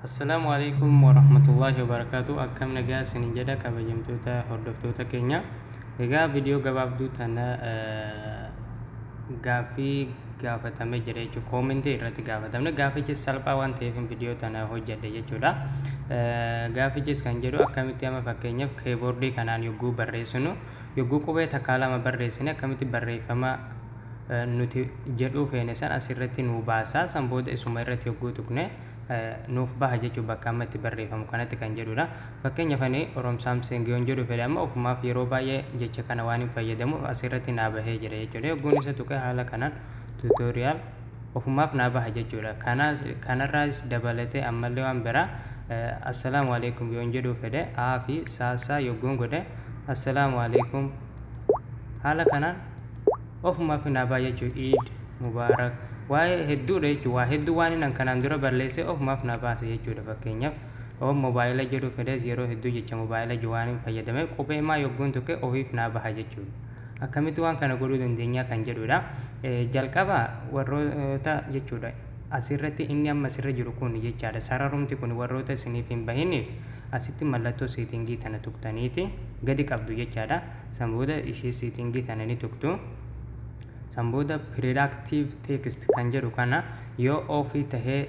Assalaamu alaikum warahmatullahi wabarakatuh akkam nagaa isin jedha kabajamtoota hordoftoota keenya egaa viidiyoo gabaabduu tana eh, gaaffii gaafatame jira jechuudha koomentii irratti gaafatamne gaaffichis salphaa waan ta'eef viidiyoo tana hojjedhe jechuudha Eh, gaaffichis kan jedhu akkamitti amma fakkeenyaaf keeboordii kanaan yogguu barreessinu yogguu qubee takkaa lama barreessine akkamitti barreeffama nuti jedhuu feene san asirratti nuu baasa san booda isuma irratti yogguu tuqne nuuf baha jechuun bakka amma itti barreeffamu kanatti kan jedhudha. Fakkeenyaaf ani Orom Samsung yoon jedhu fedhe amma ofumaaf yeroo baay'ee jecha kana waan hin fayyadamuuf asirratti naa bahee jira jechuudha. Yogguun isa tuqe haala kanaan tutorial ofumaaf naa baha jechuudha. Kanarraas dabalatee ammallee waan biraa assalaamu alaikum yoon jedhuu fedhe aa fi saasaa yogguun godhe assalaamu alaikum haala kanaan ofumaaf hinaafaa jechuu iid mubaarak waa'ee hedduudha jechuu waa hedduu waan inni kanaan dura balleessee ofumaaf na baase jechuudha fakkeenyaaf oon mobaayila jedhu fidees yeroo hedduu jecha mobaayila jedhu waan hin fayyadame qubee maa yogguun tuqe ofiif naa baha jechuudha akkamitti waan kana godhuu dandeenyaa kan jedhuudha jalqaba warroota jechuudha As irratti inni amma sirra jiru kuni jechaadha. Sararumti kuni warroota isiniif hin bahiniif asitti mallattoo seetingii tana tuqtaniiti gadi qabdu jechaadha. San booda ishee seetingii tana ni tuqtu. San booda Productive Text kan jedhu kana yoo ofii tahee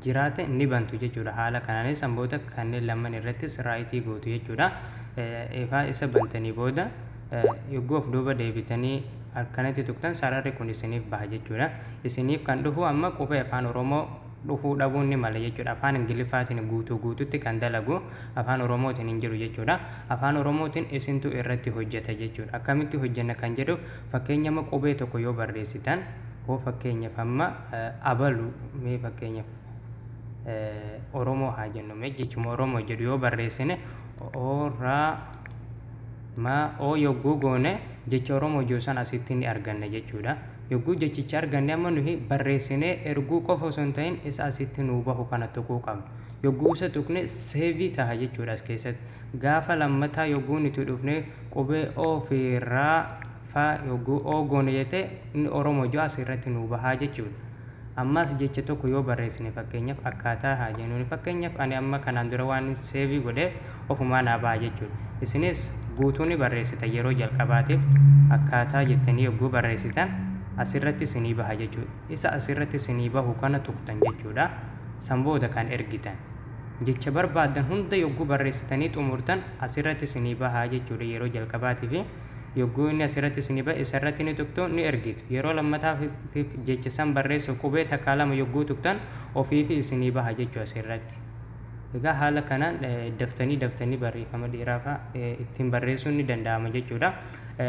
jiraate ni bantu jechuudha. Haala kanaanis san booda kanneen lamman irrattis raayitii gootu jechuudha. Egaa isa bantanii booda Yogguu of duuba deebitanii akkanatti tuqtan sararri kun isiniif baha jechuudha. Isiniif kan dhufu amma qubee afaan Oromoo dhufuu dhabuun ni mala jechuudha. Afaan Ingiliffaatiin guutuu guututti kan dalagu afaan Oromootiin hin jiru jechuudha. Afaan Oromootiin isintu irratti hojjeta jechuudha. Akkamitti hojjenna kan jedhuuf fakkeenya amma qubee tokko yoo barreessitan hoo fakkeenyaaf amma abalu mee fakkeenyaaf Oromoo haa jennu mee jechuma Oromoo jedhu yoo barreessine oraa ma o yogguu goone jecha Oromoo jiru sana asitti ni arganna jechuudha. Yogguu jechicha arganne amma nuhi barreessinee erguu qofa osoo hin ta'in isa asitti nuu bahu kana tuquu qabna. Yogguu isa tuqne seevii taha jechuudha as keessatti. Gaafa lammataa yogguu nuti dhufne qubee o fi ra fa yogguu o goone jette inni Oromoo jiru as irratti nuu bahaa jechuudha. Ammaas jecha tokko yoo barreessine fakkeenyaf akkaataa haa jennuuni fakkeenyaf ani amma kanaan dura waanin seevii godhe ofumaa naa baha jechuudha. Isinis guutuu ni barreessitan yeroo jalqabaatiif akkaataa jettanii yogguu barreessitan asirratti isinii baha jechuudha. Isa asirratti isinii bahu kana tuqxan jechuudha. San booda kan ergitan. Jecha barbaaddan hunda yogguu barreessitanii xumurtan asirratti isinii baha jechuudha yeroo jalqabaatiifi. Yogguu inni asirratti isinii ba'e isarratti ni tuqtu, ni ergitu. Yeroo lammataatiif jecha san barreessuuf qubee takkaa lama yogguu tuqtan ofiifi isinii baha jechuu asirratti. Egaa haala kanaan daftanii daftanii barreeffama dheeraa fa'a ittiin barreessuun ni danda'ama jechuudha.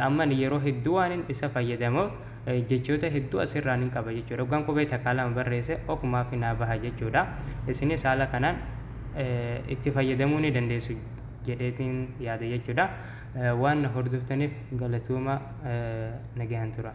Amma ani yeroo hedduu waanin isa fayyadamuuf jechoota hedduu asirraa nin qaba jechuudha. Yoggaan qubee takkaa lama barreesse ofumaafi naa baha jechuudha. Isinis haala kanaan itti fayyadamuu ni dandeessu jedheetiin yaada jechuudha. Waan na hordoftaniif galatoomaa nagaan turaa.